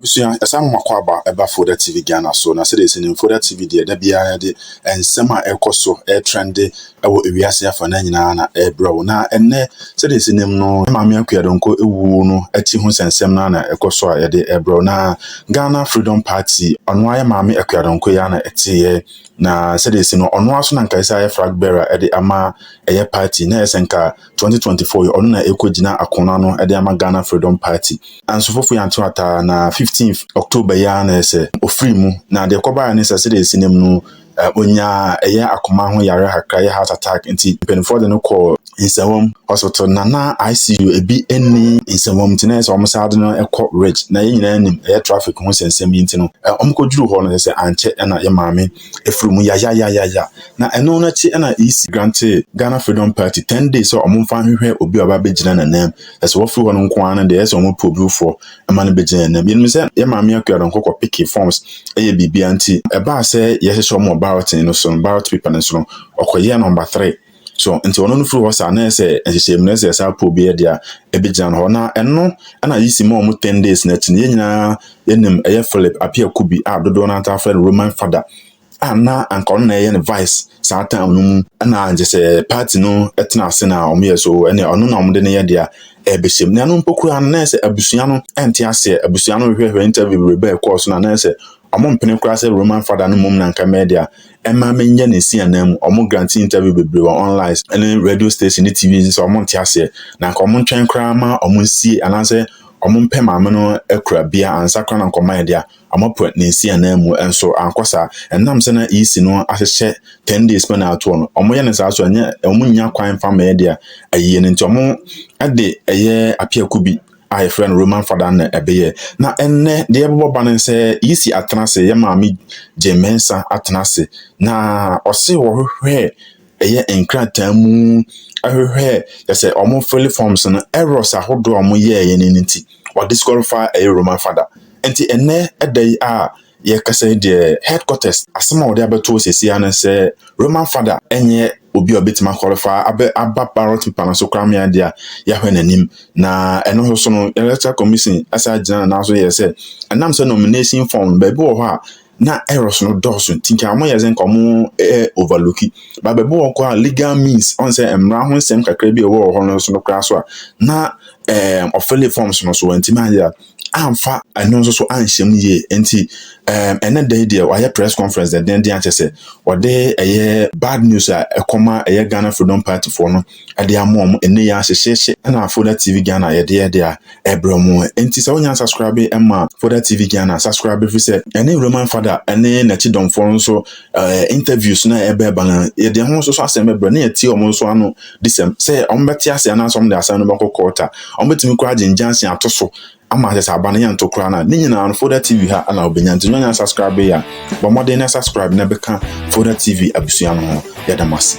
Ebusua, yɛsan hom akɔ aba ba Foda TV Ghana so, na sɛdeɛ yɛsi nim Foda TV deɛ da biara yɛde nsɛm a ɛrekɔ so, ɛretrɛnde wɔ ewiase afa naa nyinaa na ɛrebrɛ wo. Na ɛnnɛ, sɛdeɛ yɛsi nim no, yɛn Maame Akua Donkor ewuo no akyi ho nsɛnsɛm no ara na ɛkɔ so a yɛde ɛrebrɛ wo. Na Ghana Freedom Party, ɔno ara yɛn Maame Akua Donkor yi ara na ɛteeɛ, na sɛdeɛ yɛsi no, ɔno ara nso na nka ɛsɛ sɛ ayɛ flag bearer de ama ɛyɛ party, na ɛyɛ sɛ nka twenty twenty four yi ɔno na ɛkɔ gyina ako no ano de ama Ghana Freedom Party. Nanso Fofo Yantew ataa na fifteenth October yi ara na ɛsɛ ɔfiri mu na deɛ ɛkɔbaeɛ ne sɛ sɛdeɛ ɛsi nam no ɔnyaa ɛyɛ akoma ho yareɛ kakra yɛ heart attack nti mpanimfoɔ de no kɔɔ nsɛmwam hospital na na ICU ebi ɛnni nsɛmwam nti na ɛsɛ wɔn saa de no ɛkɔ rich na yɛn nyinaa nim ɛyɛ traffic ho sɛnsɛm yi nti no wɔn kɔduru hɔ no sɛ ankyɛ na yɛ maame ɛfiri mu yayayayaya. Na ɛno no akyi na EC grantee Ghana Freedom Party ten days sɛ wɔmfa nhwehwɛ obi a ɔba bɛgyina n'anam. Ɛsɛ wɔfiri hɔ no nko ara no deɛ ɛyɛ sɛ wɔpɛ obi foforɔ ma no bɛgyina n'anam. Yɛnim sɛ yɛ Maame Akua Donkor kɔ peke forms yɛ biribiara nti, ɛbaa sɛ yɛhyehyɛ wɔn wɔ balloting no so no, ballot paper no so no, ɔkɔyɛɛ number three. So nti ɔno no firi hɔ saa na ɛsɛ nhyehyɛ mu na ɛsɛ saa pool bi yɛ deɛ ɛbɛgyina no hɔ na ɛno ɛna yi si ma wɔn ten days na akyi no yɛn nyinaa yɛnim ɛyɛ Philip Apia Kubi a dodoɔ no ata afrɛ no Roman Fada a na anka ɔno na ɛyɛ ne vice saa time no mu ɛna nkyɛ sɛ party no ɛtena ase na wɔn yɛ so ɛne ɔno na wɔn de no yɛ deɛ ɛbɛhyɛ mu na ɛno mpo koraa no na ɛsɛ abusua no ɛnte aseɛ abusua no hwehwɛhwɛ interview bebree bɛɛ kɔɔ so na na ɛsɛ wɔn mpene koraa sɛ Roman Fada no mmom na nka mɛyɛ deɛ ɛma me nyɛ ne nsi anan mu ɔmo grante interview bebree wɔ online ne radio station ne tv sɛ ɔmo nte aseɛ na nka ɔmo ntwɛn koraa ma ɔmo nsie anaasɛ ɔmo mpɛ maame no akura bia ansa koraa na nkɔma yɛde a ɔmo apɛ ne nsi anan mu nso ankɔ saa ɛnam sɛ na EC no ahyehyɛ 10 days pɛ na atoɔ no ɔmo yɛ ne saa so ɛnyɛ ɔmo nya kwan mfa ma yɛde a ayie no nti ɔmo ɛde ɛyɛ apiako bi a yɛfrɛ no Roman Fada na ɛbɛyɛ. Na ɛnnɛ deɛ ɛbɛbɔ ba no sɛ yɛsi atena ase, yɛ maame gye mmensa atena ase. Na ɔse wɔhwehwɛ ɛyɛ nkrataa mu, ɛhwehwɛ yɛsɛ wɔn fili forms no, errors ahodoɔ a wɔn yɛɛyɛ no nti, ɔdisqualify ɛyɛ Roman Fada. Nti ɛnnɛ ɛda yi a Yɛkasa yi deɛ headquarters asɛm a wɔde abɛto hɔ seesei ara ne sɛ Roman Fada nyɛ obi a obetumi akɔlifaa abɛ aba ballot paper no so koraa ma yɛn de a yɛahwɛ n'anim na ɛno nso so no electoral commission asan agyina ne nan so yɛ sɛ ɛnam sɛ nomination form no baabi wɔ hɔ a na errors no dɔɔso nti nka wɔn yɛ sɛ nka wɔn ɛ overlooki ba baabi wɔ hɔ a legal means ɔn sɛ mmara ho nsɛm kakra bi a ɛwɔ hɔ no so no koraa so a na ɛɛ ɔfɛle forms no so wɔntumi ayɛ a amfa ɛno nso so anhyɛ mu yie nti ɛɛm ɛnɛ da yi deɛ wayɛ press conference dɛndɛndɛn akyɛ sɛ ɔde ɛyɛ bad news a ɛkɔma ɛyɛ Ghana Freedom Party foɔ no ɛde ama wɔn ɛnɛ yɛ ahyehyehye ɛna Foda TV Ghana yɛde yɛ deɛ ɛbrɛ mu nti sɛ wonya subscribe ɛma Foda TV Ghana subscribe fi sɛ ɛne Roman Fada ɛne n'akyi dɔmfoɔ nso ɛɛ interviews na ɛbɛɛba no yɛde ho nso so asɛm ɛbrɛ ne yɛtie wɔn nso ano disɛm, sɛ wɔbɛte ase anaasɛ wɔde asɛm no bɛkɔ kɔɔt a, wɔbɛtumi koraa agye ngyase ato so ama akyɛ sɛ aba no yɛnto koraa no a, ne nyinaa no Folda TV ha na wobɛnya. Nti nyɛ subscribe yɛ a, bɔ mmɔden na subscribe na bɛka Folda TV abusua no ho. Yɛda mo ase.